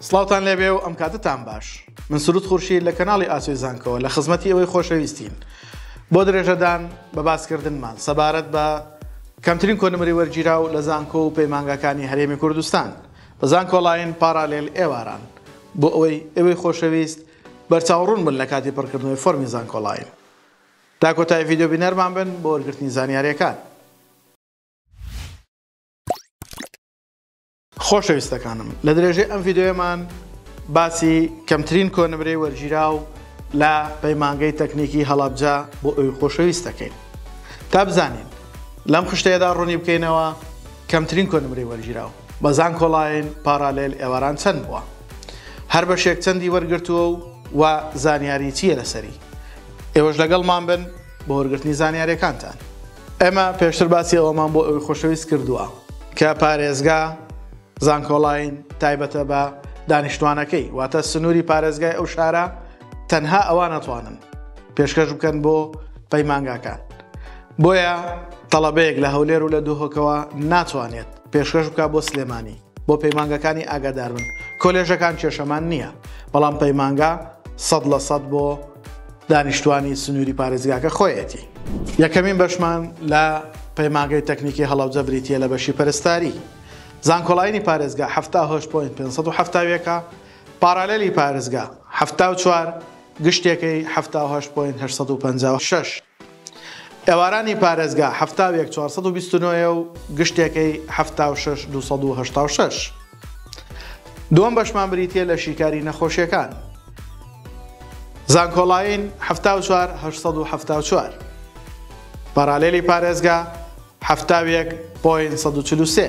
سڵاوتان لێبێ و ئەم کاتتان باش من سرود خورشی لە کەناڵی ئاسوی زانکەوە لە خزمەتی ئەوەی خۆشەویستین بۆ درێژەدان بە باسکردنمان سەبارەت بە کەمترین کۆنمری وەرگیرا و لە زانکۆ و پەیمانگاکانی هەرێمی کوردستان بە زانکۆڵین پارالێل ئێواران بۆ ئەوەی ئەوەی خۆشەویست بەرچاوڕون بن لە کاتی پڕکردنەوەی فۆرمی زانکۆڵین تا کۆتای ڤیددیو بینەرمان بن بۆ وەرگرتنی زانیارەکان خۆشەویستەکانم لە درێژەی ئەم ڤیدیۆیەمان باسی کەمترین کۆنمرەی وەرگیراو لە پەیمانگەی تەکنیکی هەڵابجا بۆ ئەوی خۆشەویست دەکەین تا بزانین لەم خشتەیەدا ڕوونی بکەینەوە کەمترین کۆنمرەی وەرگیراو بەزان کۆڵین پارالێل ئێواران چەند بووە هەر بەشێک چەندی وەرگرتووە و و زانیاری چییە لەسەری ئێوەش لەگەڵمان بن بۆ وەرگرتنی زانیارەکانتان ئێمە پێشتر باسی ئەوەمان بۆ ئەوی خۆشەویست کردووە کە پارێزگا زانکۆڵین تایبەتە بە دانیشتوانەکەی واتە سنووری پارێزگای ئەو شارە تەنها ئەوان ناتوانن پێشکەش بکەن بۆ پەیمانگاکان بۆیە تەڵەبەیەک لە هەولێر و لە دوهۆکەوە ناتوانێت پێشکەش بکە بۆ سلێمانی بۆ پەیمانگەکانی ئاگاداربن کۆلێژەکان کێشەمان نییە بەڵام پەیمانگا سەد لە سەد بۆ دانیشتوانی سنووری پارێزگاکە خۆیەتی یەکەمین بەشمان لە پەیماگەی تەکنیکی هەڵەوجە بریتە لە بەشی پەرستاری زانکۆڵینی پارێزگا هەفتا هۆش پوین 570ەکە پارالەلی پارێزگا هەفتا و چوار گشتەکەی هەفتا هۆش پوین 1950 شش ئێوارانی پارێزگا حەفتا و یەک چوار سەد و بیست و نۆ یە و گشتێکەی حەفتا و شەش دوو سەد و هەشتا و شەش. دووەم بەشمان بریتییە لە شیکاری نەخۆشیەکان. زانکۆڵاین حەفتا و چوار هەشت سەد و حەفتا و چوار. پارالێلی پارێزگا حەفتا و یەک پۆین سەد و چل و سێ.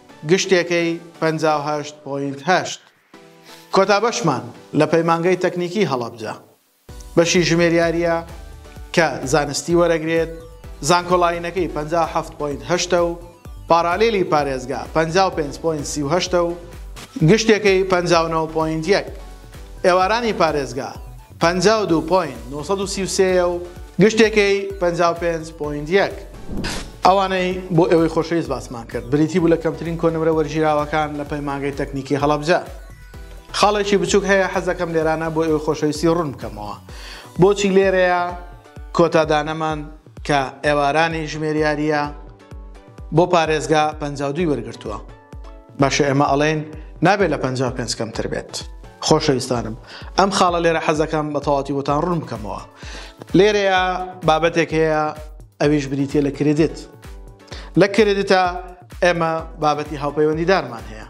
گشتێکەی پەنجا و هەشت پۆینت هەشت. کۆتا بەشمان لە پەیمانگەی تەکنیکی هەڵەبجە بەشی ژمێریارییە کە زانستی وەرەگرێت، زانکۆلاینەکەی پەنجا و حەفت پۆینت هەشت ە و پارالیلی پارێزگا پەنجا و پێنج پۆینت سی و هەشت ە و گشتێکەی پەنجا و نۆ پۆینت یەک. ئێوارانی پارێزگا پەنجا و دوو پۆینت نۆ سەد و سی و سێ یە و گشتێکەی پەنجا و پێنج پۆینت یەک. ئەوانەی بۆ ئێوەی خۆشەویست باسمان کرد، بریتی بوو لە کەمترین کۆنمرە وەرگیراوەکان لە پەیمانگەی تەکنیکی هەڵەبجە. خاڵێکی بچووک هەیە حەز دەکەم لێرانە بۆ ئێوەی خۆشەویستی ڕوون بکەمەوە بۆچی لێرەیە کۆتا دانەمان کە ئێوارانی ژمێریارییە، بۆ پارێزگا پەنجا و دووی وەرگرتووە باشە ئێمە ئەڵێن نابێت لە پەنجا و پێنج کەمتر بێت خۆشەویستانم ئەم خاڵە لێرە حەزەکەم بە تەواتی بۆتان ڕوون بکەمەوە لێرەیە بابەتێک هەیە ئەویش بریتە لە کرێدت لە کرێدتە ئێمە بابەتی هاوپەیوەندیدارمان هەیە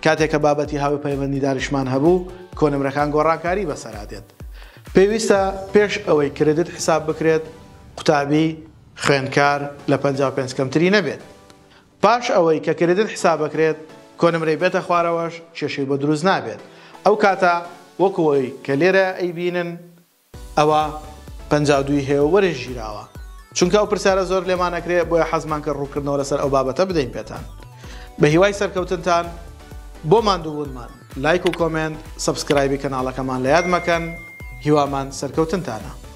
کاتێکە بابەتی هاوی پەیوەندیداریشمان هەبوو کۆنمرەکان گۆڕانکاری بەسەرا دێت پێویستە پێش ئەوەی کرێدت حساب بکرێت قوتابی خوێندکار لە پەنجا و پێنج کەمتری نەبێت پاش ئەوەی کە کریدت حسابەکرێت کۆنمرەی بێتە خوارەوەش کێشەی بۆ دروست نابێت ئەو کاتە وەکو ئەوەی کە لێرە ئەیبینن ئەوە پەنجا و دووی هەیە و وەرش گیراوە چونکە ئەو پرسیارە زۆر لێمان ئەکرێ بۆیە حەزمان کرد ڕوونکردنەوە لەسەر ئەو بابەتە بدەین پێتان بە هیوای سەرکەوتنتان بۆ ماندووبوونمان لایک و کۆمێنت سەبسکرایبی کەناڵەکەمان لە یاد مەکەن هیوامان سەرکەوتنتانە.